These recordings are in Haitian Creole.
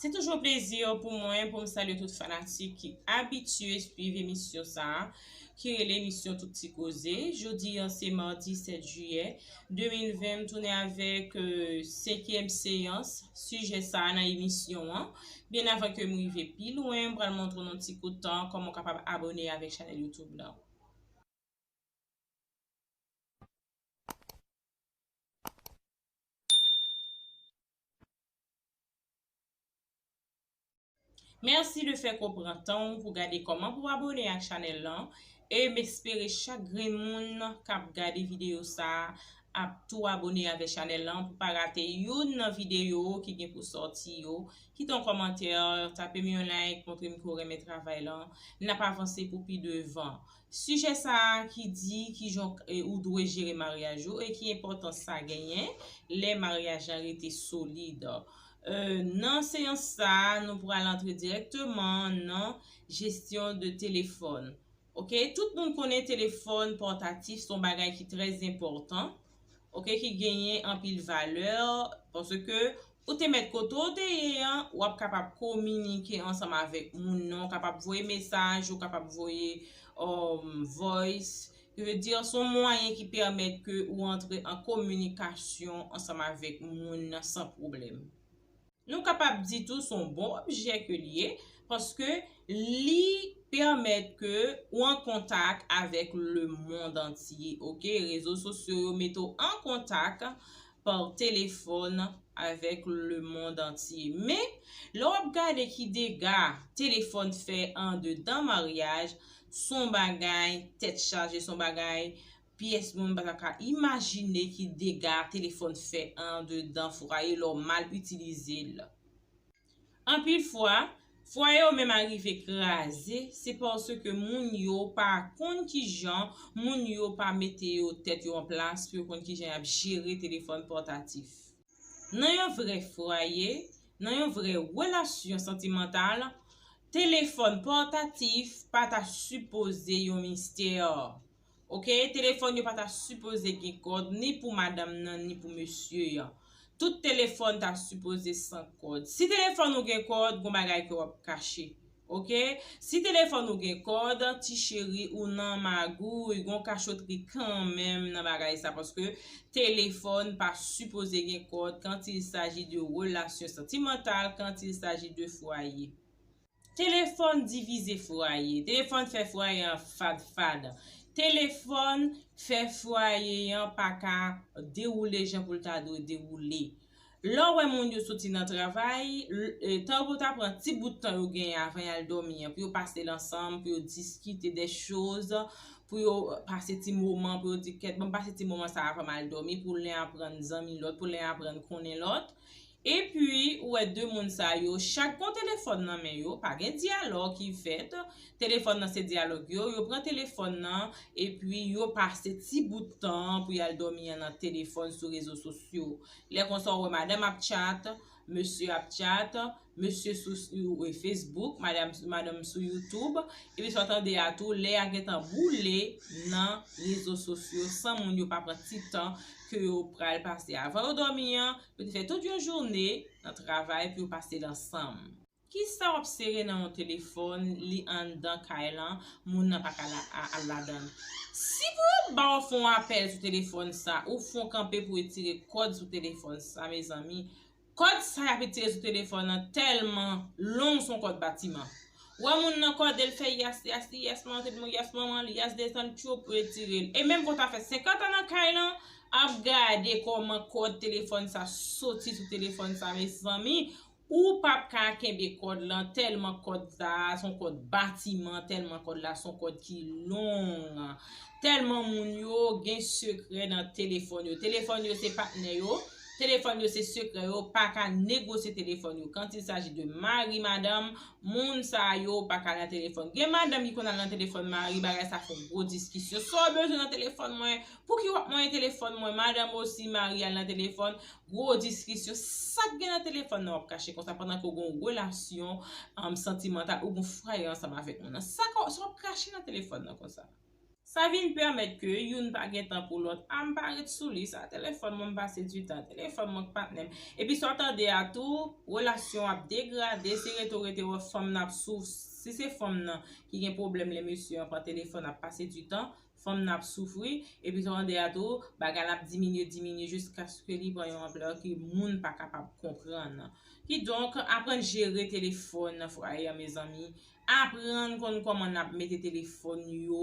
Se toujou yon plezi pou mwen pou m salye tout fanatik ki abitye swiv emisyon sa a ki rele emisyon Tout Ti Koze. Jodi an se madi 7 jiyè 2020 m tounen avèk senkyèm seyans sijè sa a nan emisyon an. Byen avan ke m rive pi lwen m pral montre w nan ti kout tan kòman w kapab abòne avèk chanèl YouTube lan. Merci de fek ou pran tanw pou gade koman pou abone ak chanel lan e m espere chak grenn moun kap gade video sa ap tou abone avè chanel lan pou pa rate youn nan video ki gen pou sòti yo kite yon kòmantè tapem yon like montrem ke w renmen travay lan nap avanse pou pi devan Sijè sa a ki di kijan ou dwe jere maryaj ou e ki enpòtans sa genyen lè maryaj la rete solid. Nan seyans sa a, nou pral antre dirèkteman nan jesyon de telefòn. Ok, tout moun konnen telefòn pòtatif son bagay ki trè enpòtan. ok ki genyen anpil valè paske ou te mèt kote ou te ye an ou ap kapab kominike ansanm avèk moun nan ou kapab voye mesaj ou kapab voye um voice ki vle di son mwayen ki pèmèt ke ou antre an kominikasyon ansanm avèk moun nan san pwoblèm. Nou kapab di tou s on bon objè ke l ye, paske li pèmèt ke ou an kontak avèk lemond antye ok, rezo sosyo yo mete w an kontak pa telefòn avèk lemond antye. Men, lè w ap gade ki dega telefòn fè andedan maryaj, s on bagay tèt chaje, s on bagay pyès moun pa ta ka imajine ki dega telefòn fè andedan fwaye lè w mal itilize l. Anpil fwa, fwaye yo menm arive kraze se paske moun yo pa konn kijan moun yo pa mete yo tèt yo an plas pou yo konn kijan y ap jere telefòn pòtatif. Nan yon vrè fwaye, nan yon vrè relasyon santimantal, telefòn pòtatif pa ta sipoze yon mistè. Ok telefòn yo pa ta sipoze gen kòd ni pou madanm nan ni pou mesye an tout telefòn ta sipoze san kòd si telefòn ou gen kòd gon bagay ke wap kache ok si telefòn ou gen kòd ti cheri ou nan magouy gon kachotri kanmenm nan bagay sa paske telefòn pa sipoze gen kòd quand il s'agit de relasyon santimantal quand il s'agit de fwaye. Telefòn divize fwaye. Telefòn fè fwaye an fad fad. Telefòn fè fwaye an pa ka dewoule jan pou l ta dwe dewoule. Lè w wè moun yo soti nan travay, tan yo pou yo ta pran ti bout tan yo genyen avan y al dòmi an pou yo pase l ansanm, pou yo diskite de choz, pou yo pase ti moman, pou yo di kèt bon m pase ti moman sa avan m al dòmi pou len aprann zanmi lòt, pou len aprann konnen lòt. Epi, ou wè de moun sa yo, chak gon telefòn nan men yo, pa gen dyalòg ki fèt, telefòn nan se dyalòg yo, yo pran telefòn nan, epi yo pase ti bout tan an pou y al dòmi an nan telefòn sou rezo sosyo. Lè konsa ou wè madanm ap tchat, mesye ap tchat, mesye sou Facebook, madanm sou YouTube, epi sa w tande a tou, lè a gen tan boule nan rezo sosyo san moun yo pa pran ti tan ke yo pral pase avan yo dòmi an, Yo te fè tout yon joune nan travay pou yo pase l ansanm. Kisa w ap sere nan yon telefòn li anndan kay lan moun nan pa ka al ladan l? Si pou yo ba w fon apèl sou telefòn sa ou fon kanpe pou etire kòd sou telefòn sa mezanmi kòd sa y ap etire sou telefòn lan tèlman long s on kòd batiman w wè moun nan kòde l fè yas yas li yas manted mo yas manman l yas desann tchoup ou etire l e menm ke w ta fè 50 an nan kay lan Ap gade koman kod telefon sa soti sou telefon sa mezanmi ou pap ka kenbe kod lan telman kod sa son kod batiman telman kod la son kod ki long telman moun yo gen sekrè nan telefon yo telefon yo se patnè yo telefon yo se sekrè yo paka negosye telefon yo kant il saji de mari madanm moun sa yo paka nan telefon gen madanm ki konn al nan telefon mari bagay sa fon gwo diskisyon sa w bezwen nan telefon mwen Pouki wap mwen telefòn mwen madanm osi marial nan telefòn gwo diskisyon sak gen nan telefòn nan wap kache konsa pandan ke ou gon relasyon santimantal ou gon fwaye ansanm avèk moun nan sa wap kache nan telefòn nan konsa. Sa vin pèmèt ke youn pa gen tan pou lòt ah m pa ret sou li sa telefòn mwen m pase du tan telefòn mwen ak patnè m epi sa w tande a tou relasyon an ap degrade se rete w rete wè fanm nan ap souf si se fanm nan ki gen pwoblèm lè mesye an pran telefòn ap pase du tan fanm nan ap soufri, epi tande a tou bagay la ap diminye diminye jiskaske li pran yon anplè ke moun pa kapab konprann. Kidonk, aprann jere telefòn nan fwaye an mezanmi, aprann konn kòman nap mete telefòn nou yo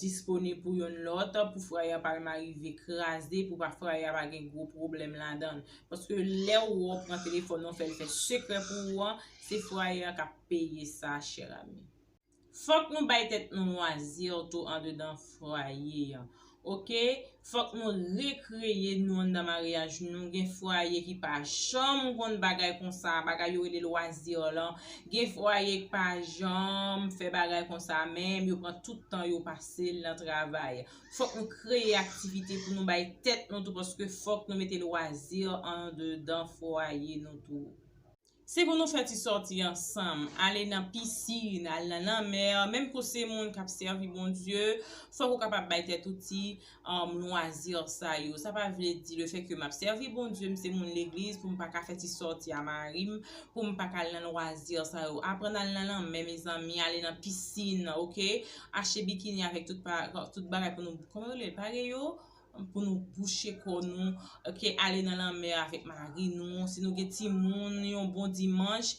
disponib pou yonn lòt pou fwaye a pa jalman rive kraze, pou fwaye a pa gen gwo pwoblèm ladann. Paske lè ou wè ou pran telefòn nan ou fè l fè sekrè pou ou an, se fwaye a kap peye sa chèr ami. Fòk nou bay tèt nou lwazir tou andedan fwaye an ok fòk nou rekreye nou anndan maryaj nou gen fwaye ki pa janm konn bagay konsa bagay yo rele lwazir lan gen fwaye ki pa janm fè bagay konsa menm yo pran tout tan yo pasel nan travay fòk nou kreye aktivite pou nou bay tèt nou tou paske fòk nou mete lwazir andedan fwaye nou tou. Se pou nou fè ti sòti ansanm, ale nan pisin, al nan lanmè, menm ke w se moun k ap sèvi Bondye, fòk ou kapab bay tèt ou ti lwazi sa yo. Sa pa vle di lefètke m ap sèvi Bondye, m se moun legliz pou m pa ka fè ti sòti a mari m, pou m pa ka al nan lwazi sa yo. Aprann al nan lanmè mezanmi, ale nan pisin ok, achte bikini avèk tout bagay pou nou, kòman yo rele l, pare yo? pou nou bouche kò nou ok ale nan lanmè avèk mari nou si nou gen timoun yon bon dimanch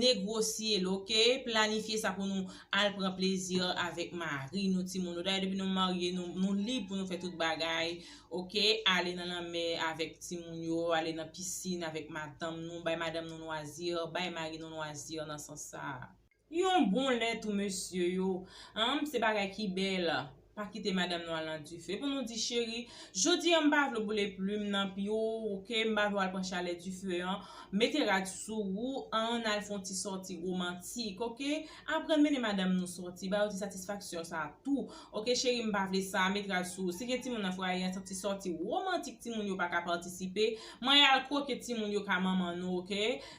negrosye l ok planifye sa pou nou al pran plezi avèk mari nou timoun nou dayè depi nou marye nou lib pou nou fè tout bagay ok ale nan lanmè avèk timoun yo ale nan pisin avèk madanm nou bay madanm nou lwazi bay mari nou lwazi nan sans sa a. Yon bon lè tou mesye yo. Humm se bagay ki bèl. Pa kite madam nou al nan dife pou nou di cheri Jodi an m pa vle w boule plum nan pi ou ok m pa vle w al pran chalè dife an Mete rad sou ou an n al fon ti sòti romantik ok Aprann mennen madam nou sòti ba yo ti satisfaksyon sa tou ok cheri m pa vle sa Met rad sou ou Si gen timoun nan fwaye an se ti sòti romantik timoun yo pa ka patisipe Mwen al kwoke timoun yo ka manman nou ok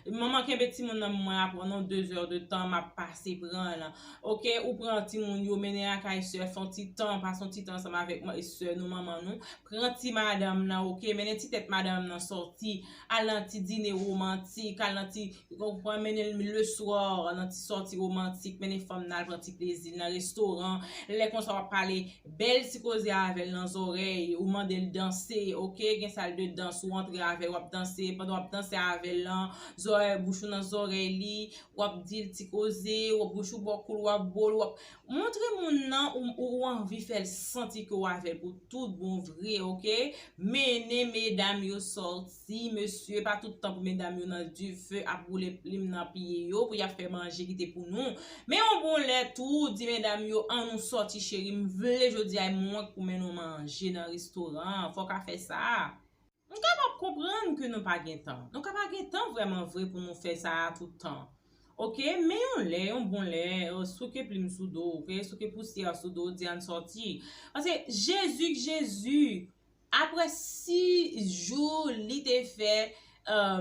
Manman kenbe timoun nan mwen a pran non 2 heures de tan map pase pranl ok ou pran timoun yo mennen lakay sè fon ti tan pase yon ti tan ansanm avèk sè nou manman nou pran ti madanm nan ok mennen ti tèt madanm nan sòti al nan ti dine romantik al nan ti ou konprann mennenl le soir nan ti sòti romantik mennen fanm nan al pran ti plezil nan restoran lè konsa wap pale Bel ti koze avel nan zorey ou mandel danse ok gen sal de dans ou antre avel wap danse pandan wap danse avel lan zorey bouch ou nan zorey li wap dil ti koze wap bouch ou bo koul wap bol wap montre moun nan ou anvi fel santi ke ou avel pou tout bon vre ok mennen medam yo soti. Ti mesye pa tout tan pou medam yo nan dife ap boule plim nan piye yo pou yap fè manje ki te pou nou men yon bon lè tou di medam yo an nou sòti cheri m vle jodi a mwen k pou mennen w manje nan restoran an fò w ka fè sa m kapab konprann ke nou pa gen tan nou ka pa gen tan vrèman vre pou nou fè sa a tout tan ok men yon lè yon bon lè souke plim sou do w ok souke pousyè sou do w di an n sòti paske jezi k jezi Apre si jou li te fè,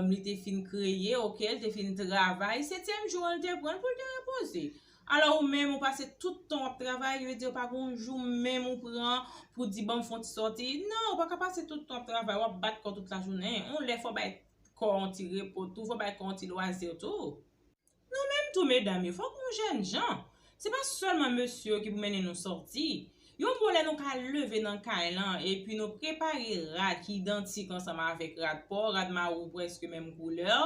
li te fin kreye, ok, li te fin travay, setyèm jou an li te pran pou l te repoze. Alò ou menm ou pase tout tan w ap travay, yo di yo pa gen yon jou menm ou pran pou di banm fon ti sòti. Non, ou pa ka pase tout tan w ap travay, w ap bat kò tout lajounen. Yon lè fò w bay kò w yon ti repo tou, fò w bay kò w yon ti lwazi tou. Nou menm tou medam yo fòk nou jènjan, se pa sèlman mesye yo ki pou mennen nou sòti. Yon bon lè nou ka leve nan kay lan epi nou prepare rad ki idantik ansanm avèk rad paw, rad mari w prèske menm koulè,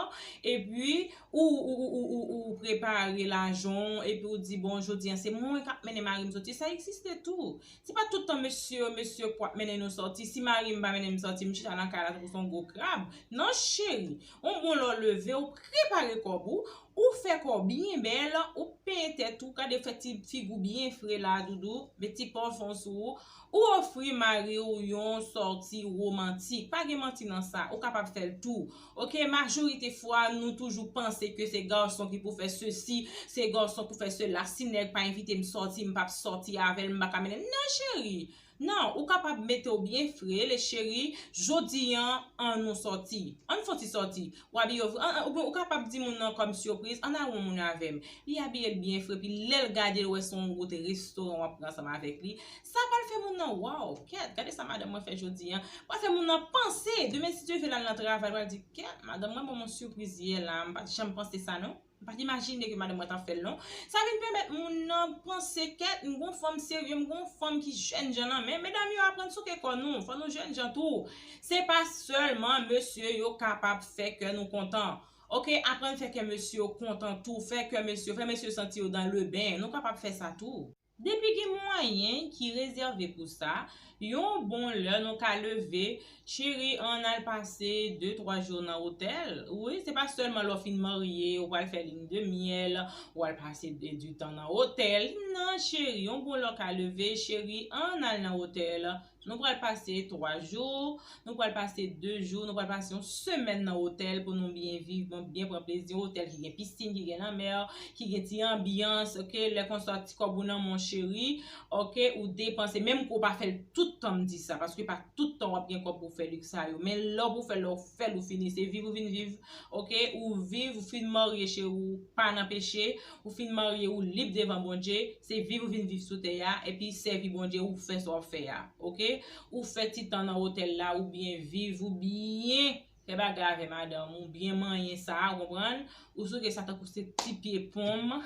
epi ou ou ou prepare lajan w epi ou di bon jodi an se mwen kap mennen mari m sòti sa egziste tou. Se pa tout tan mesye yo mesye yo k pou ap mennen nou sòti, si mari m pa mennen m sòti m chita nan kay la tankou s on gwo krab, non cheri. Ou bon lè w leve w prepare kòb ou, ou fè kò w byen bèl, ou penyen tèt ou, gade fè ti figi w byen fre la a doudou, met ti pafon sou ou, ou ofri mari w yon sòti romantik, pa gen manti nan sa, ou kapab fè l tou ok, majorite fwa nou toujou panse ke se gason ki pou fè sesi, se gason pou fè sela, si nèg pa envite m sòti m pap sòti avè l, m pa ka mennen l, non cheri! Nan, ou kapab mete w byen fre, le cheri, jodi an, an nou sòti. An n fon ti sòti. W abiye w fre. An, an, oubyen ou kapab di moun nan kòm sipriz, an n al wè yon moun avè m. Li abiye l byen fre, epi lè l gade l wè se yon wout restoran w ap pran ansanm avèk li, sa pral fè moun nan, Waw, kèt, gade sa madanm mwen fè jodi an. Pral fè moun nan panse, demen si Dye ve l al nan travay, l pral di, kèt, madanm mwen ban m yon sipriz yè la a, m pa t janm panse sa non. M pa t imajine ke madanm mwen t ap fè l non. Sa vin pèmèt moun nan panse kèt, m gon fanm serye, m gon fanm ki jèn jan nan men. Medam yo aprann souke kò nou, fò nou jèn jan tou. Se pa sèlman mesye yo kapab fè kè nou kontan. Ok, aprann fè kè mesye yo kontan tou, fè kè mesye yo, fè mesye yo santi yo dan leben. Nou kapab fè sa tou. Depi gen mwayen ki rezève pou sa, yon bon lè nou ka leve cheri ann al pase de twa jou nan otèl, wi se pa sèlman lè w fin marye ou pral fè lin de myèl ou al pase di tan nan otèl nan cheri yon bon lè w ka leve cheri ann al nan otèl Nou pral pase 3 jou, nou pral pase 2 jou, nou pral pase yon semèn nan otèl pou nou byen viv, pou nou byen pran plezi. Yon otèl ki gen piscine, ki gen lanmè, ki gen ti anbyans, ok. Lè konsa ti kòb ou nan men w cheri, ok, ou depanse. Menm ke w pa fè l tout tan, m di sa, paske pa tout tan w ap gen kòb pou w fè lèks sa yo. Men lè w pou fè l la, w fè l, ou fini. Se viv ou vin viv, ok. Ou viv, ou fin marye cheri, w pa nan peche. Ou fin marye ou lib devan Bondye, se viv ou vin viv sou tè a, epi sèvi Bondye ou fè sa wap fè a ok, ou fè ti tan nan otèl la ou byen viv ou byen fè bagay avè madanm ou byen manyen sa ou konprann, ou souke sa tankou se ti pye ponm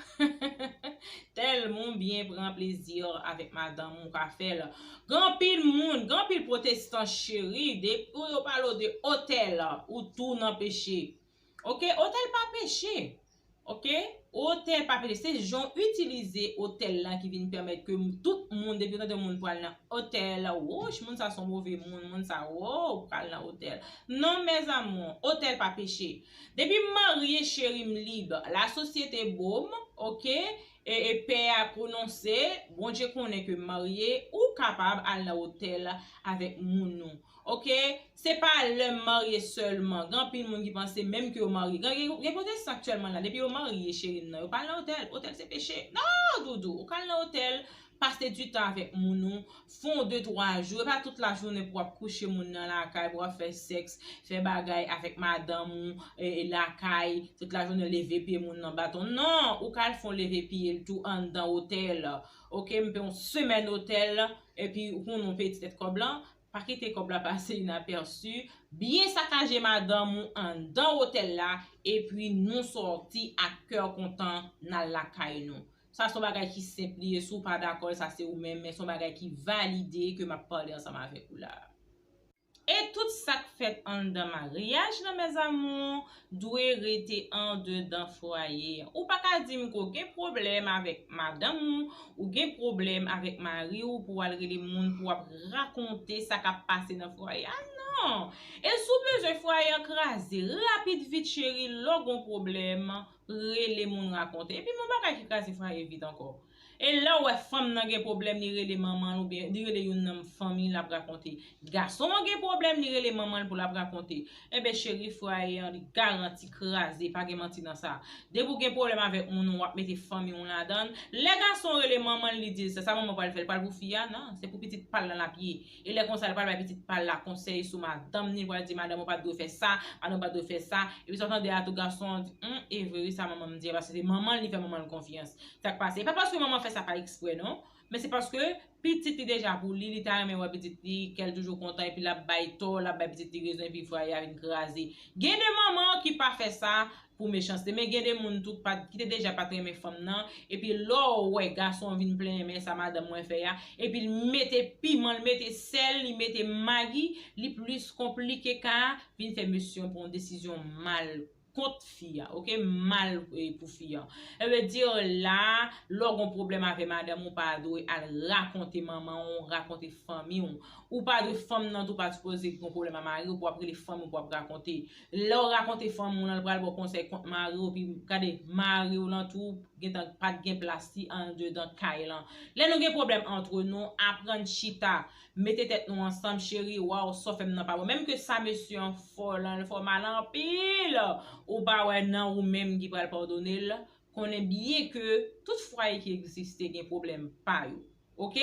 tèlman ou byen pran plezi avèk madanm ou ka fèl gen anpil moun, gen anpil pwotestan cheri depi yo pale w de otèl ou tou nan peche ok, otèl pa peche. Ok otè pa pede se jan w itilize otèl la ki vin pèmèt ke tout moun depi yo tande yon moun pral nan otèl wouch moun sa son move moun moun sa woww pral nan otèl non mes amour otèl pa peche depi m marye cheri m lib la sosyete bo m ok e pè a pwononse Bondye konnen ke m marye ou kapab al nan otèl avèk moun ou Ok se pa lè marye sèlman gen anpil moun ki panse menm ke yo marye gen pwotestan aktyèlman la depi yo marye cheri m nan yo pa al nan otèl otèl se peche nan doudou ou ka al nan otèl pase du tan avèk moun ou fon w de twa jou e pa tout la jounen pou wap kouche moun nan lakay pou wap fè sèks fè bagay avèk madanm ou lakay tout la jounen leve pye moun nan baton nan ou ka al fon leve pye l tou anndan otèl. Ok mnpe yon semèn otèl epi ou konn yon peti tèt kòb lan pa kite kòb la pase inapèsi byen sakaje madanm ou anndan otèl la epi nou sòti ak kè kontan nal lakay nou sa son bagay ki senp li ye si w pa dakò l sa se ou menm men son bagay ki valide ke map pale ansanm avèk ou la. E tout sak fèt anndan maryaj lan mes amours dwe rete andedan fwaye an ou paka dim ke w gen pwoblèm avèk madanm ou ou gen pwoblèm avèk mari w pou wal rele moun pou wap rakonte sa kap pase nan fwaye a nan e si w bezwen fwaye an kraze rapid vit cheri lè w gon pwoblèm rele moun rakonte epi m yon bagay ki kraze fwaye vit ankò E lèw wè fanm nan gen pwoblèm li rele manmanl oubyen li rele youn nan m fanmiy lap rakonte. Gason an gen pwoblèm li rele manmanl pou lap rakonte. Enben cheri fwaye an li garanti kraze pa gen manti nan sa. Depi ou gen pwoblèm avèk moun ou wap mete fanmiw ladanl. Lè gason rele manmanl li dil sa sa manman pral fè li pral pou fi a nan se pou pitit pal lan lap ye. E lè konsa li pral bay pitit pal la konsèy sou madanm ni li pral di madanm ou pat dwe fè sa, madanm ou pat dwe fè sa, epi sa w tande a tou gason an di humm e vre wi sa manman m di a paske se manman l li fè manman l konfyans. Sak pase e pa paske manman fè sa pa eksprè non men se paske pitit li deja pou li li ta renmen wè pitit li kè l toujou kontan epi lap bay tò lap bay pitit li rezon epi fwaye a vin kraze. Gen de manman ki pa fè sa pou mechanste men gen de moun tou ki te deja pat renmen fanm nan epi lè w wè gason an vin plenyen men sa madanm mwen fè a epi l mete piman l mete sèl li mete magi li plis konplike ka a vin fè mesye an pran desizyon mal kont fi a ok mal pou fi an sa vle di la lè w gon pwoblèm avè madanm ou pa dwe al rakonte manman w rakonte fanmi w ou pa dwe fanm nan tou pa sipoze gon pwoblèm a mari w pou wap rele fanmi w pou wap rakonte. Lèw rakonte fanm moun an li pral baw konsèy kont mariw epi gade mariw lan tou gentan pat gen plas li andedan kay lan lè nou gen pwoblèm antre nou aprann chita mete tèt nou ansanm cheri waw saw fèm nan pa bon menm ke sa mesye an fò lan li fò mal anpil ou pa wè nan ou menm ki pral padonel konnen byen ke tout fwaye ki egziste gen pwoblèm pa yo. Ok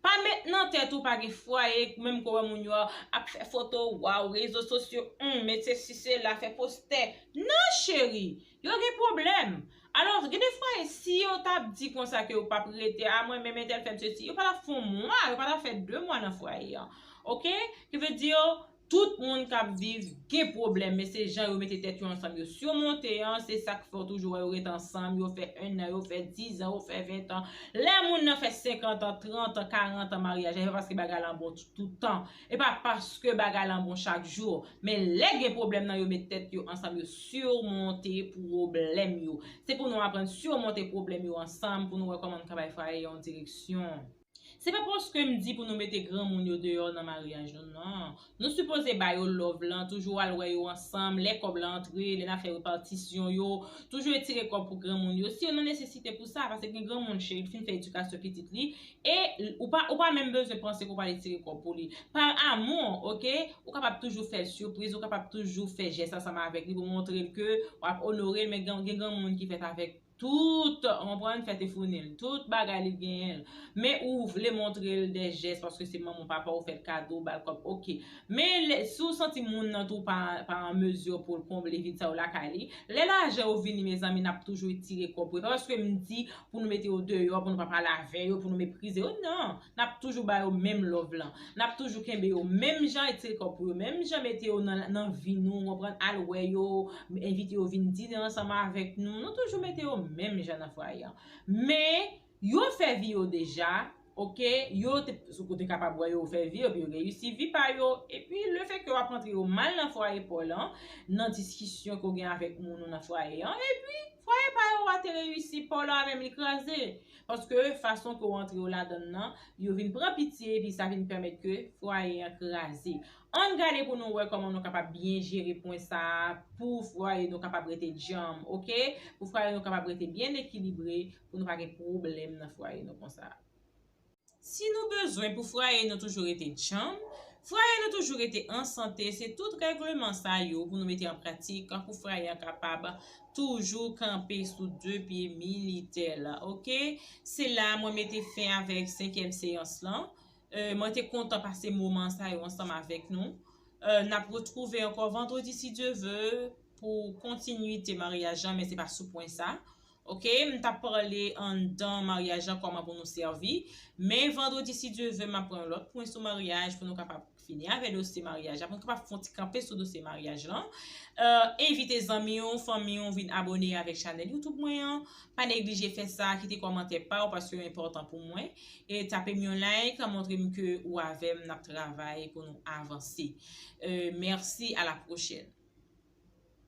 pa met nan tèt ou pa gen fwaye menm ke w wè moun yo ap fè foto waw rezo sosyo humm met sesi sela fè postè nan cheri yo gen pwoblèm alò gen de fwaye si yo tap di konsa ke yo pap rete a mwen menm entèl fèm sesi yo pa tap fè yon mwa yo pa tap fè 2 mwa nan fwaye an ok ki vle di yo Tout moun kap viv gen pwoblèm men se jan yo mete tèt yo ansanm yo simonte an se sak fè w toujou wè yo ret ansanm yo fè 1 an yo fè 10 an yo fè 20 tan lè moun nan fè 50 an 30 an 40 an maryaj la se pa paske bagay lan bon tout tan e pa paske bagay lan bon chak jou men lè gen pwoblèm nan yo met tèt yo ansanm yo simonte pwoblèm yo se pou nou aprann simonte pwoblèm yo ansanm pou nou wè kòman nou ka bay fwaye yon direksyon. Se pa paske m di pou nou mete granmoun yo deyò nan maryaj nou nan. Nou sipoze ba yo love lan, toujou al wè yo ansanm, lè kòb la antre, lè n ap fè repatisyon yo, toujou etire kòb pou granmoun yo, si yo nan nesesite pou sa, paske gen granmoun cheri ki fin fè edikasyon pitit li, e ou pa ou pa menm bezwen panse ke w prale tire kòb pou li. Par amour, ok, ou kapab toujou fè l surprise, ou kapab toujou fè jès ansanm avèk li pou montre l ke w ap onore l, men gen granmoun ki fèt avèk Tout, ou konprann, fè te founi l. Tout bagay li genyen l. Men ou vle montre l dè jès paske se manman w papa w fè l kado ou ba l kòb ok. Men lè, si w santi moun nan tou pa pa an mezi pou l konble vid sa yo lakay li, lè lajan yo vini mezanmi n ap toujou etire kòb pou yo. Se pa paske m di pou nou mete yo deyò, pou nou pa pale avè yo, pou nou meprize yo nan. Nap toujou ba yo menm love lan. Nap toujou kenbe yo menm jan et se kò pou yo menm jan mete yo nan vi nou konprann al wè yo envite yo vin dine ansanm avèk nou nou toujou mete yo menm jan nan fwaye an men yo fè vi yo deja ok yo te ou te kapab wè yo fè vi yo epi yo reyisi vi pa yo epi le fè ke wap antre yo mal nan fwaye paw lan nan diskisyon ke w gen avèk moun ou nan fwaye an epi fwaye pa yo a te reyisi paw la menm li kraze Paske fason ke w antre w ladan l lan, yo vin pran pitye epi sa vin pèmèt ke fwaye an kraze. Ann gade pou nou wè kòman nou kapab byen jere pwen sa a pou fwaye nou kapab rete djanm ok, pou fwaye nou kapab rete byen ekilibre, pou nou pa gen pwoblèm nan fwaye nou konsa. Si nou bezwen pou fraye nou toujou rete djanm, fraye nou toujou rete an sante, se tout règleman sa yo pou nou mete an pratik pou fraye an kapab toujou kanpe sou de pye militè l. Ok, se la mwen mete fen avèk senkyèm seyans lan. Mwen te kontan pase moman sa yo ansanm avèk nou. N ap retwouve ankò vandredi si Dye ve pou kontinwite maryaj lan men se pa sou pwen sa. Ok m tap pale anndan maryaj la kòman pou nou sèvi, men vandredi si Dye ve map pran yon lòt pwen sou maryaj pou nou kapab fini avè dosye maryaj la, pou nou kapab fè yon ti kanpe sou dosye maryaj lan. Envite zanmi w, fanmi w vin abone avèk chanèl YouTube mwen an, pa neglije fè sa, kite kòmantè pa w paske yo enpòtan pou mwen, e tape m yon like montre m ke ou avè m nap travay pou nou avanse. Mèsi a la pwochèn.